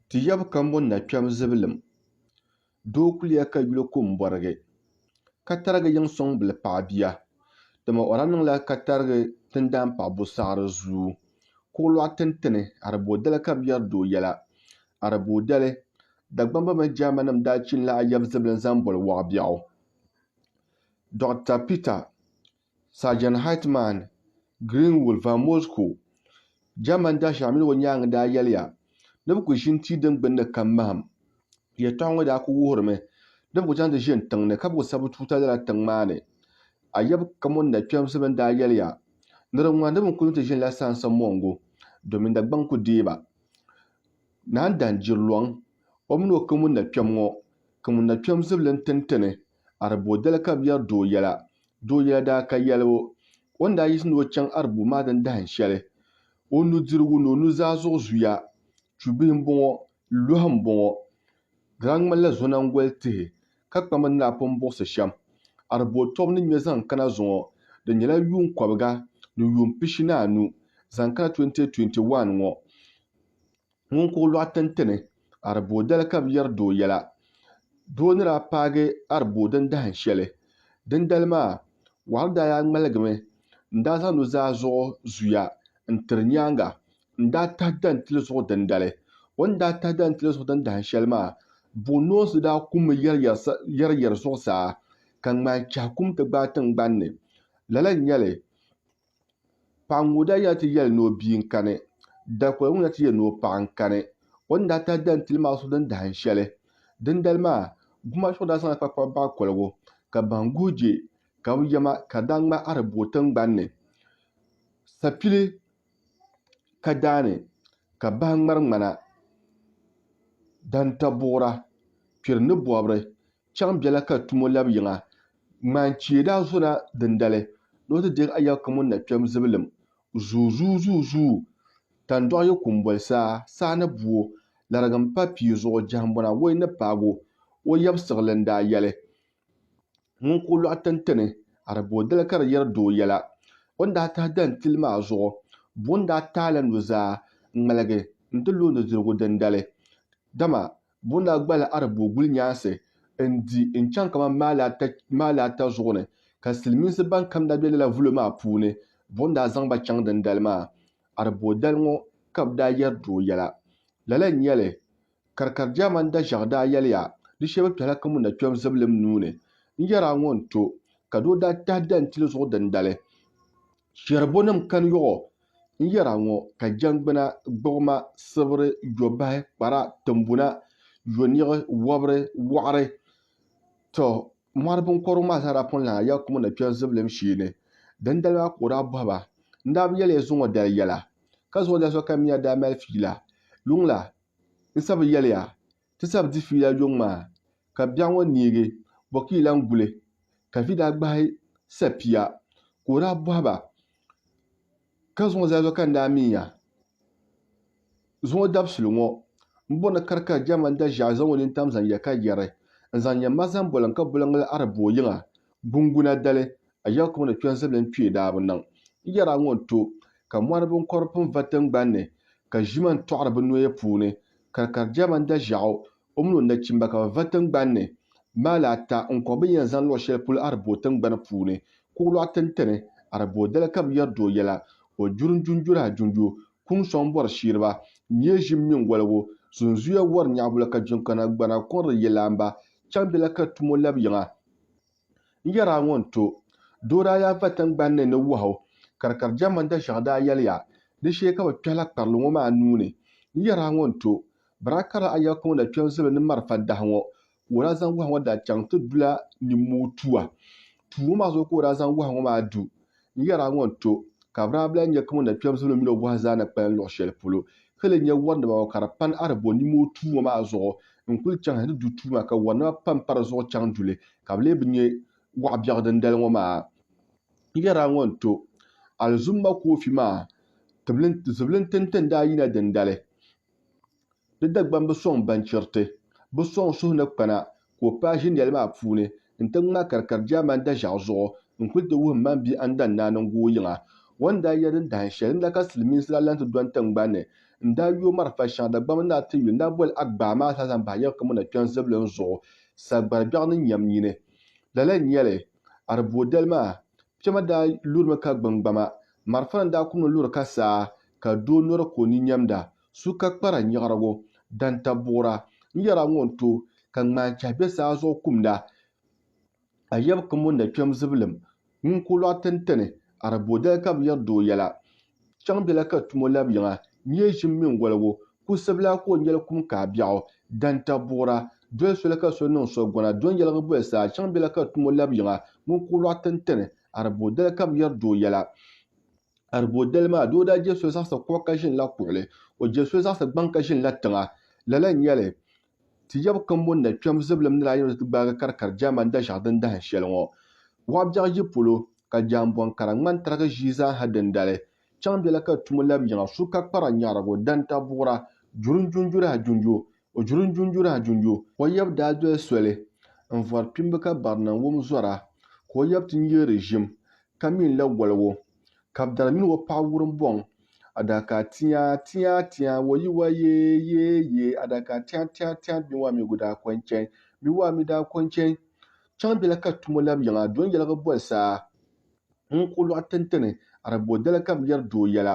Ti yab kambo na kpɛm zibilim, doo kuliya ka yuli ko m-bɔrigi, ka tarigi yiŋ sɔŋ bili paɣ bia, dama o daa niŋla ka tarigi tindaan paɣ bo saɣiri zuu. Kuɣilɔɣ tintini Areboodali ka bɛ yɛri doo yɛla. Areboodali, Dagbamba mini Jɛrimanim daa chinila a yab zibilim zaŋ boli Wɔɣibiɛɣu. Dɔɣita Pita. Sergeant Heitmann Greenwul Van Moskou, German Dasha mini o nyaaŋa daa yɛliya ni bɛ ku ʒini tia din gbunni kam mahim. Yɛtɔɣa ŋɔ daa ku wuhirimi ni bɛ ku chaŋ ti ʒini tiŋ ni ka bɛ ku sabi tuuta lala tiŋ maa ni. Ayɛbu kamɔni na kpɛmsi bɛn daa yɛliya ni di ŋmani di mi ku ni ti ʒinila saansa mɔŋgu domin Dagbaŋ ku deei ba. Naan Dahin Jirilɔŋ, o mini o kamɔni na kpɛm ŋɔ, kamɔni na kpɛm zibili n-tini ti ni Arbu dali ka bɛ yɛri doo yɛla. Doo yɛla daa ka yɛli o. O ni daa yiɣisi ni o chaŋ Arbu maa din dahin shɛli, o nudirigu ni o nuzaa zuɣu zuya chubihi m-bɔŋɔ, lɔhi m-bɔŋɔ. Di daa ŋmanila zonangoli tihi ka kpamba ni daa pun buɣisi shɛm. Arbu o tɔbu ni ŋme zaŋ kana zuŋɔ, di nyɛla yuun kɔbiga ni yuun pishi ni anu zaŋ kana 2021 ŋɔ. Ŋun kuɣ lɔɣu tintini Arbodɛl ka bɛ yɛri doo yɛla. Doo ni daa paagi Arboo din dahin shɛli. Dindali maa, Wahab daa yaa ŋmaligimi n-daa zaŋ nuzaa zuɣu zuya n-tiri nyaaŋa n-daa tahi dan tili zuɣu dindali. O ni daa tahi dan tili zuɣu din dahin shɛli maa, buɣinoonsi daa kummi yɛriyɛri zuɣusaa ka ŋmahi chɛhi kum ti gbaai tiŋgbani ni. Lala n-nyɛ li. Paɣ ŋun daa yɛli ti yɛli ni o bia n-kani, dalikoli ŋun daa ti yɛli ni o paɣ n-kani, o ni daa tahi dan tili maa so din dahin shɛli. Dindali maa, gumaal so daa zaŋla kpakpaba baɣ koligu, ka bahim guhi je, ka bi yɛma ka di daa ŋmahi Arabua tiŋgban ni. Sapili ka daa ni ka bahi ŋmari ŋmana, dantɔbuɣira, kpiri ni bɔbiri, Chaŋ bela ka tumo lab yiŋa. Ŋmaan chie daa zona dindali ni o ti deeg a yɛbu kam o ni na kpɛm zibilim. Zuuzuuzuuzuu! Tandɔɣu yi kum boli saa, saa ni bu o. Larigi m-pa pia zuɣu, jɛhimbɔna woi ni paag o. O yab siɣili n-daa yɛli, Ŋun ka o lɔɣu tintini, a di booi dali ka di yɛri doo yɛla. O ni daa tahi dahin tili maa zuɣu, buɣim daa taai la nuzaa n-ŋmaligi nti lo nudirigu dindali. Dama Bo na gbali Arabo gulinyaansi n-di n-chaŋ kamani maali ata zuɣu ni, ka silimiinsi ban kam daa be lala vulo maa puuni. Bo n-daa zaŋ ba chaŋ dindali maa. Arabo dali ŋɔ ka bɛ daa yɛri doo yɛla. Lala n-nyɛ li, Karikari Jaaman Daʒɛɣu daa yɛliya, Di shee bɛ kpɛhila Kamu na kpɛbu zibilim nuu ni. N yɛri a ŋɔ n-to, ka doo daa tahi dantili zuɣu dindali. Chɛrubunima kani yɔɣɔ n-yɛra ŋɔ, ka jɛngbuna, gbuɣima, sibiri, yɔbahi, kpara, timbuna, yɔniɣi, wɔbiri, wɔɣiri. Tɔ! Mɔri biŋkɔbirigu maa zaa daa pun lahi ya kumu ni kpɛri zibilim shee ni. Dindali maa ka o daa bɔhi ba, N daa bi yɛli ya zuŋɔ dali yɛla? Ka zuŋɔ dali sokam mi a daa mali fiila? Yuŋ la, n sa bi yɛli ya. Ti sab di fiila yuŋ maa, ka biɛɣu ŋɔ neegi bɔ ka yi lan guli? Ka vi daa gbahi sapia ka o daa bɔhi ba, Ka zuŋɔ zaa zuɣu ka n daa min ya? Zuŋɔ dabisili ŋɔ, m bo ni ka di ka jɛma n da ʒiɛɣu zaŋ o nini tam zaŋ ya ka yɛri, N zaŋ ya ma zaŋ boliŋ ka boliŋli Araboo yiŋa gunguna dali, a ya kuŋ ni kpiɔŋ ziblim kpee daa bi niŋ. N yɛra ŋɔ n-to, ka mɔri biŋkɔbiri pun va tiŋgban ni, ka ʒima n-tɔɣiri bɛ noya puuni, Karikaridiya mani Daʒaɣu, o mini o nachimba ka bɛ va tiŋgbani ni. Maali ata, ŋ-kɔhi bɛ ni yɛn zani luɣ shɛli polo Araboo tiŋgbani puuni. Kuɣulɔɣu tintini, Araboo dali ka bɛ yɛri di o yɛla. O juri n-junjuri a junju, kuŋ sɔŋ bɔri shiiriba, nyee ʒim mini wɔligu, zunzuya wɔri nyaɣibu la ka jiŋkana gbana kɔŋri yɛlaamba chaŋ bɛ la ka tum o labi yiŋa. N yɛr a ŋɔ n-ti o, doo daa yaa va tiŋgbani ni ni wɔh o, ka di kari jɛmma dashɛŋa daa yɛliya, Di shee ka bɛ kpɛhila kparili ŋɔ maa nuu ni. N yɛr a ŋɔ n-ti o, Biraai karili a yɛl ka ŋɔ na kpe n-zibili ni marafa dahi ŋɔ, ka o daa zaŋ wɔh ŋɔ daa chaŋ ti du la nimmuu tua. Tuu ŋɔ maa zuɣu ka o daa zaŋ wɔh ŋɔ maa du. N yɛri a ŋɔ n-ti o, ka Abraham lahi nya ka ŋun na kpɛm zibili mini o bɔha zaa na kpalim luɣ shɛli polo, ka leei nya wɔrinima ŋɔ ka di pani a ni bo nima o tuuma maa zuɣu n-kul chaŋ hal ti du tuuma, ka wɔrinima pam pa di zuɣu chaŋ du li, ka bɛ lee bi nya wɔɣ biɛɣu dindali ŋɔ maa. N yɛri a ŋɔ n-ti o, Alizum Makoofi maa zibili n-ti n-ti n daa yina dindali. Di Dagbaŋ bi sɔŋ baŋchiriti, bi sɔŋ suhu ni kpana ka o paai ʒiniɛli maa puuni n-ti ŋma ka di kari Jaamani daʒɛɣu zuɣu n-kuli ti wuhi mmaŋ bia Andan Naa ni ŋgooi yiŋa o ni daa yɛli din dahin shɛli n-na ka silimiinsi daa lan ti dɔni tiŋgbani ni n-daa yooi marafa shɛŋa Dagbaŋ ni a ti yu n-daa boli Agbaa maa zaa zaŋ bahi yiŋa kam o na kpiɔŋ zibilim zuɣu Sagbari biɛɣu ni nyam nyini. Lala n-nyɛli, Aribodali maa, piɛma daa lurimi ka gbini gbama, marafa ni daa kumdi luri ka saa ka doo nɔri ka o ni nyamda su ka kpara nyaɣirigu, danta buɣira n yɛra ŋɔ n to, ka ŋmaan chɛhi be saa zuɣu kumda. A yab kim o nakpɛm zibilim, ŋun ku lɔɣi tintani, Arabodali ka bɛ yɛri di o yɛla. Chaŋ bela ka tum o labiyiŋa, nyee ʒim mini woligu, kusibila ka o nyɛli kum ka a biɛɣu, danta buɣira, doli soli ka so niŋ so gɔna, do n yɛligi boli saa, chaŋ bela ka tum o labiyiŋa, ŋun ku lɔɣi tintani, Arabodali ka bɛ yɛri di o yɛla. Aribodali maa, doo daa je so zaɣisi kuɣa ka ʒinila kuɣili. O je so zaɣisi gbaŋ ka ʒinila tiŋa. Lala n-nyɛ li, ti yab kambon na kpɛm zibilim ni daa yɛn ɔzi ti gbaagi karikari Jaman daʒɛɣu din dahin shɛli ŋɔ. Waɣ biɛɣu yi polo, ka jaanbɔŋ kara ŋmani tarigi ʒii zaaha dindali. Chaŋ bela ka tum o labi yiŋa su ka kpara nyaɣirigu, danta buɣira, juri n-junjuri a junju, O juri n-junjura junjo. Ka o yab daa doli soli n-vɔri kpimba ka barina wum zɔra, ka o yab ti nyɛ di ʒim, ka mi n-la waligu. Ka bɛ dari mini o paɣ wurim bɔŋ adakaa tiaa tiaa tiaa, o yi wa yee yee yee adakaa tiaa tiaa tiaa bɛ waa mi gu daa kɔŋ chɛn, bɛ waa mi daa kɔŋ chɛn. Chaŋ bɛla ka tum o lab yiŋa don yɛligi boli saa ŋun ku lɔɣi tintini Arabodali ka bɛ yɛri doo yɛla.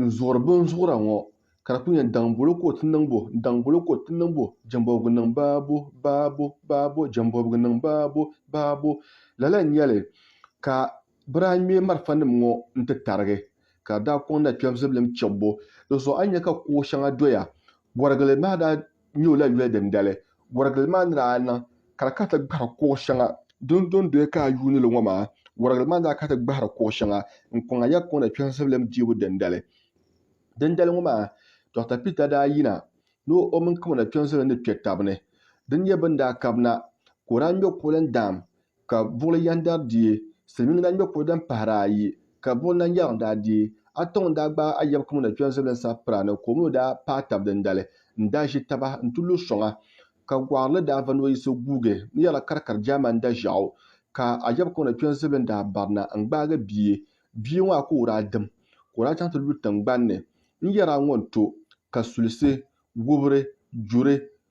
n-zuɣiri bɛn zuɣira ŋɔ, ka di kuli nyɛ, Daŋ bolo ka o ti niŋ bo? Daŋ bolo ka o ti niŋ bo? Jɛmbɔbigu niŋ baa bo, baa bo, baa bo, Jɛmbɔbigu niŋ baa bo, baa bo. Lala n-nyɛ li ka bɛ daa ŋme malifanim ŋɔ nti tarigi, ka di daa kɔŋ na kpɛbu zibilim kpɛbbu. Di zuɣu a ni nya ka kuɣ shɛŋa doya, Bɔrigili maa daa nyɛ o la yuya dindali. Warigili maa ni daa niŋ ka di kana ti gbahiri kuɣ shɛŋa din do n-doya ka a yuuni li ŋɔ maa, warigili maa ni daa kana ti gbahiri kuɣ shɛŋa n-kɔŋ a ya kɔŋda kpɛhiŋsibilim diibu dindali. Dindali ŋɔ maa Dɔɣita Pita daa yina ni o mini kamanda kpɛhiŋsibilim ni kpe tab ni. Di ni nyɛ bɛ ni daa kab na ka o daa ŋme kuɣili n-daam ka buɣili yɛn dari deei silimiingi daa ŋme kuri din pahiri ayi ka buɣili na yɛriŋ daa deei ata ŋun daa gbaai ayɛbu kama na kpɛri zibili n-sabi pira ni ka o mi o daa paai tab dindali n-daa ʒi taba n-ti lu sɔŋa ka gɔɣirili daa va ni o yiɣisi guugi n yɛrila karikari German daʒɛɣu ka ayɛbu kama na kpɛri zibili daa barina n-gbaagi bia bia ŋɔ a ka o daa dim ka o daa chaŋ ti lu tiŋgbani ni n yɛri a ŋɔ n-to ka sulisi wubiri juri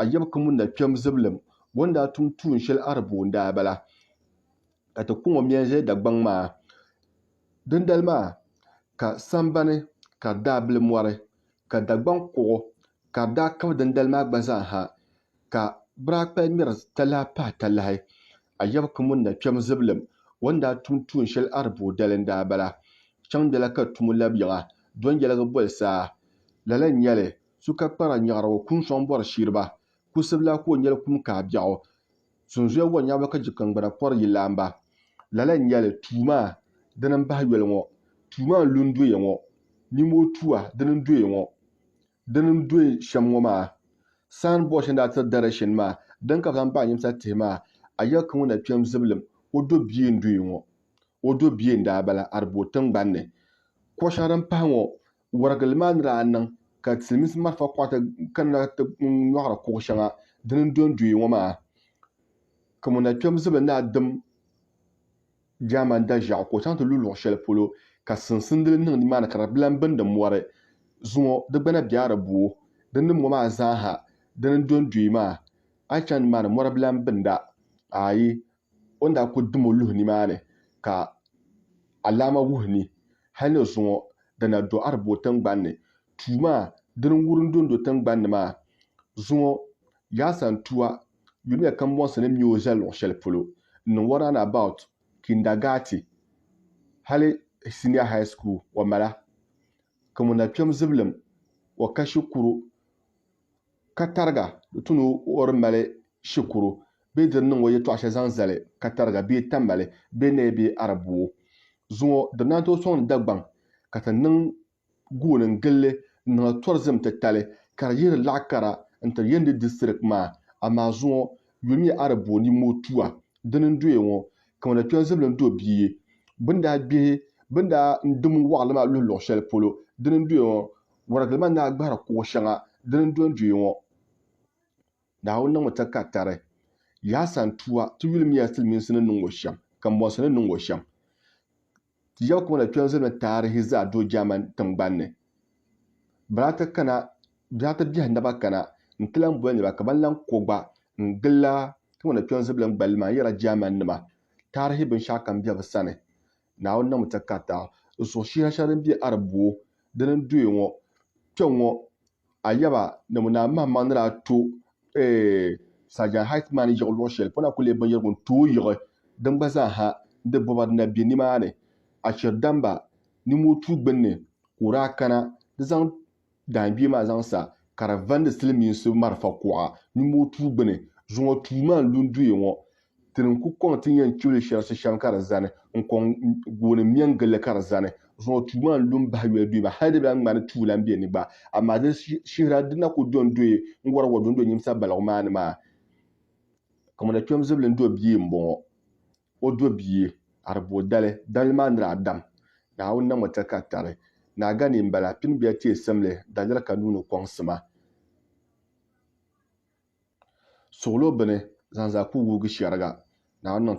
a yab ka ŋun na kpɛm zibilim bɔ n-daa tum tuun shɛli Araboo n-daa bala, ka ti kuŋ o mia n-zali Dagbaŋ maa. Dindali maa ka sambani ka di daa bili mɔri, ka Dagbaŋ kuɣu ka di daa kabi dindali maa gba zaa ha, ka biraakpal ŋmɛri talahi pahi talahi. A yab ka ŋun na kpɛm zibilim bɔ n-daa tum tuun shɛli Araboo dali n-daa bala, Chaŋ dala ka tumo lab yiŋa, Dɔnyɛligi boli saa, lala n-nyɛ li, su ka kpara nyaɣirigu kum sɔŋ bɔri shiriba, kusibila ka o nyɛli kum kahi biɛɣu, sunzuya wa nyaɣiba ka jikingbuna pɔri yi laamba. Lala n-nyɛli tuu maa dini m-bahi yoli ŋɔ, tuu maa n-lu n-doya ŋɔ, nimoo tua dini n-doya ŋɔ, dini n-doya shɛm ŋɔ maa, saan bɔri shɛli ni daa tiri direction maa, dini ka bɛ zaŋ bahi nyimsa tihi maa, a yɛli ka ŋɔ na kpɛm zibilim, o do bia n-doya ŋɔ, o do bia n-daa bala, a di bo tiŋgbani ni. Kɔshɛŋa din pahi ŋɔ Warigili maa ni daa niŋ ka Silimiinsi malifa kuɣata kanna ti nyɔɣiri kuɣ shɛŋa dini n-dondoi ŋɔ maa, ka ŋuna kpɛm zibi ni a dim Jaamani daʒiɛɣu ka o chaŋ ti lu luɣ shɛli polo ka sinsindili niŋ nimaani ka di bilan bindi mɔri zuŋɔ di gbana bɛ a di bo din ni ŋɔ maa zaa ha dini n-dondoi maa a yi chaŋ nimaani mɔri bilan binda ayi o ni daa kuli dim o luhi nimaani ka alaama wuhi ni hal ni zuŋɔ di na do Arabo tiŋgbani ni. Tua maa dini n-wurim dondo tiŋgbani ni maa. Zuŋɔ Yasan tua yulimiya kambɔnsi ni me o zali luɣ shɛli polo n-niŋ o round about kindagaati hali senior high school o mala, ka ŋuna kpɛm zibilim o kashi kuru ka tariga di tu ni o di mali shikuru bee di ni niŋ o yɛtɔɣ shɛli zaŋ zali ka tariga bee tamali bee naya bee arabuu zuŋɔ di naan tooi sɔŋ Dagbaŋ ka ti niŋ gooni n-gili li n-niŋla tɔrizim titali ka di yihiri laɣ kara n-tiri Yendi distirik maa amaa zuŋɔ yuli nyɛ arabuu ni mootua dini n-doya ŋɔ kaman di kpɛri zibili ni do bia bini daa gbihi bini daa n-dim waɣili maa luhi luɣ shɛli polo dini n-doya ŋɔ Ŋɔrigilima ni a gbahiri kuɣ shɛŋa di ni dondɔya ŋɔ. Naawuni niŋmi takatari, Yaha santua, ti yulimiya silimiinsi ni niŋ ŋɔ shɛm, kambɔnsi ni niŋ ŋɔ shɛm. Ti yɛbu kama na kpɛri zilimi taarihi zaa do German tiŋgbani ni. Bɛla ti kana, bɛla ti biɛhi naba kana nti lan boli niriba ka ban lan ko gba n-gilla kama na kpɛri zibili n-gballi maa n-yɛra Germannima taarihi binshɛɣukam be bɛ sani. Naawuni niŋmi takarita n suhi shiha shɛli din be Arab buo dini n doya ŋɔ kpeŋɔ, a yaba ni ŋun naa mahimaŋ ni daa to eeh Sajan Heitman yiɣi luɣi shɛli pɔna ku lee binyɛrigu n tooi yiɣi din gba zaa ha n di bɔba dina be nimaani, a cheri damba niŋmoo tuui gbinni ka o daa kana di zaŋ daangbee maa zaŋ sa ka di vandi silimiinsi marafa kuɣa nyumo tuu gbini. Zuŋɔ tuu maa n-lu n-duhi ŋɔ. Ti ni ku kɔŋ ti yɛn chibili shɛrisi shɛm ka di zani n-kɔŋ gooni m-me n-gili li ka di zani. Zuŋɔ tuu maa n-lu m-bahi yoli duhi maa hali di bi lahi ŋmani tuu lan be ni gba. Amaa di shihira di na ku do n-dooi n-wari wa do n-do nyimsa baligu maa ni maa. Kamina kpɛm zibili n-do bia m-bɔŋɔ. o do bia Ariboo dali, daliri maa nira Adam, Naawuni na ŋɔ tɛ ka tari, naa gani m-bala, pini bɛ ya teei simli, daliri ka nuuni kɔŋ sima. Suɣilo bini, zaŋ zaa ku wuugi shɛriga, Naawuni niŋ tɛ.